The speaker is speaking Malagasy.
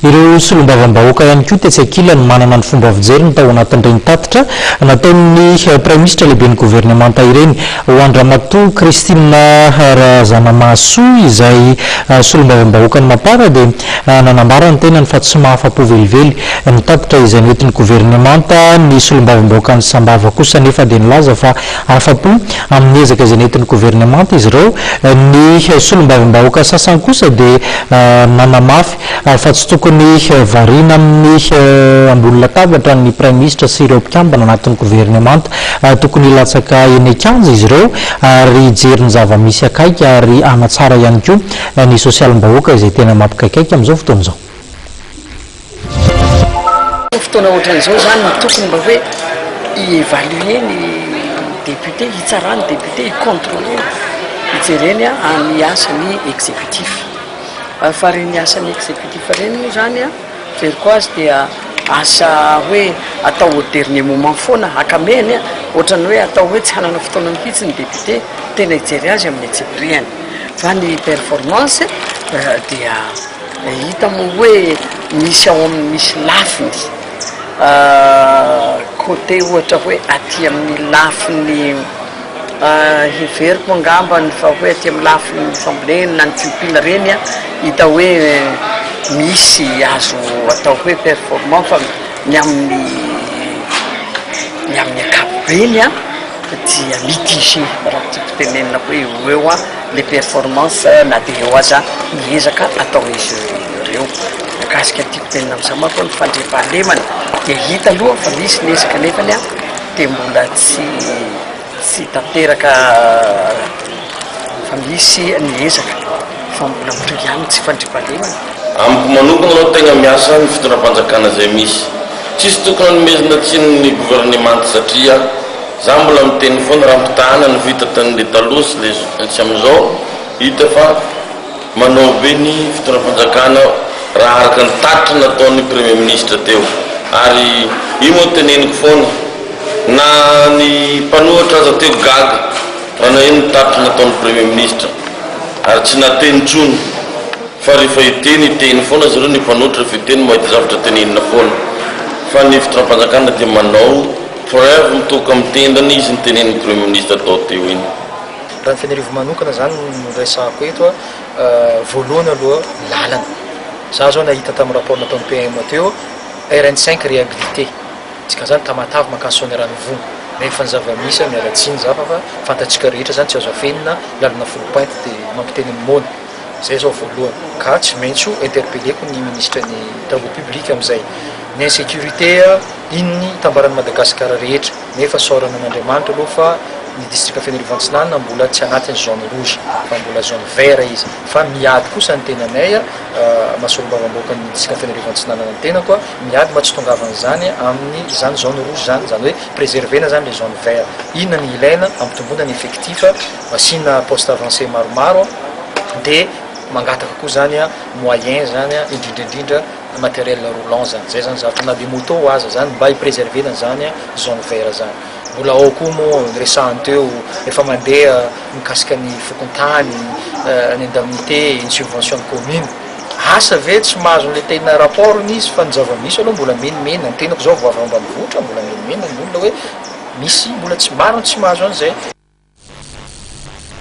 Ireo solombavambahoaka ihany koa tetsy ankilany manana ny fomba fijeriny tao anatin'ireny tatitra nataon'ny Praiminisitra lehiben'ny governemanta ireny. Ho an-dRamatoa Christine Razanamahasoa izay solombavambahoakan'i Mapar dia nanambara ny tenany fa tsy mahafa-po velively ny tatitra izay nentin'ny governemanta. Ny solombavambahoakan'i Sambava kosa anefa dia nilaza fa Afa-po amin'ny ezaka izay nentin'ny governemanta izy ireo. Ny solombavambahoaka sasany kosa dia nanamafy fa tsy tokony variana amin'ny ambony latabatra ny praiminisitra sy ireo mpikambana anatin'ny governemanta. Tokony hilatsaka eny an-kianja izy ireo ary hijery ny zava-misy akaiky ary hanatsara ihany koa ny sosialim-bahoaka izay tena mampikaikaika amin'izao fotoana izao. Fotoana ohatran'izao izany no tokony mba hoe hi-evaluer ny députés, hitsaraha ny députés, hi-controler, hijereny ny asan'ny exécutif. Fa ireny asan'ny exécutif ireny moa izany, fijeriko azy dia asa hoe atao au dernier moment foana, akamehany, ohatran'ny hoe atao hoe tsy hanana fotoana mihitsy ny député tena hijery azy amin'ny antsipirihany. Fa ny performance dia. Hita moa hoe misy ao amin'ny misy lafiny côté ohatra hoe aty amin'ny lafiny heveriko angambany fa hoe aty amin'ny lafiny fambolena na ny tsimpila ireny an, hita hoe misy azo atao hoe performant fa ny amin'ny ny amin'ny ankapobeny dia mitigé raha ny tiako tenenina hoe eo ho eo an. le performance na dia eo aza ny ezaka ataon'izy ireo. Mikasika ny tiako tenenina amin'izao manko hoe ny fandriampahalemana dia hita aloha fa misy ny ezaka nefany an dia mbola tsy tsy tanteraka fa misy ny ezaka fa mbola mitohy ihany ny tsy fandriampahalemana. Amiko manokana no tegna miasa ny fitondram-panjakana izay misy. Tsisy tokony hanomezana tsiny ny governemanta satria za mbola miteny foana raha ampitahana ny vita tanle taloha sy le tsy amizao hita fa manao be ny fitondram-panjakana raha araka ny tatitra nataony premier ministre teo ary io no teneniko foana na ny mpanohatra aza teo gaga raha naheno ny tatitra nataony premier ministre ary tsy nateny tsony Fa rehefa hiteny, hiteny foana zareo ny mpanohitra rehefa hiteny mahita zavatra tenenina foana. Fa ny fitondram-panjakana dia manao preuve mitoka amin'ny tendany izy ny tenenin'ny premier ministre tao teo iny. Raha ny faniriako manokana izany no resahako eto a, voalohany aloha lalana, za zao nahita tamin'ny rapport nataon'ny PM teo, RN cinq rehabilité, dikan'izany Tamatave mankany Soanierana Ivongo, rehefa ny zava-misy a miala tsiny za fa fa fantatsika rehetra izany tsy azo afenina, lalana folo painty dia mampiteny amin'ny moana. Zay zao voalohany. Ka tsy maintsy ho interpelleko ny ministre ny travaux publics amizay. Ny insecurite a, inn itambaran'i Madagascar rehetra. Nefa saorana an'Andriamanitra aloha fa ny district Fenerivoantsinanana mbola tsy anatin'ny zone rouge fa mbola zone vert izy. Fa miady kosa ny tenanay a, maha solombavambahoakan'ny district Fenerivoantsinanana ny tenako a, miady mba tsy itongavan'izany amin'ny izany zone rouge izany, izany hoe preserver-na izany le zone vert. Inona ny ilaina hampitomboana ny effectif. Asiana poste avancé maromaro dia mangataka koa zany moyen zany indrindra indrindra matériel roulant zany zay zany zany fa na dia moto aza zany mba hi-preserver na zany zone vert zany. Mbola ao koa moa ny resahiny teo rehefa mandeha mikasika ny fokontany, ny indemnité, ny subvention ny commune. Asa ve tsy mahazo an'ilay tena rapport-ny izy fa ny zava-misy aloha mbola menomenany. Ny tenako zao vao avy ao ambanivohitra mbola menomenany ny olona hoe. Misy mbola tsy maro ny tsy mahazo an'izay.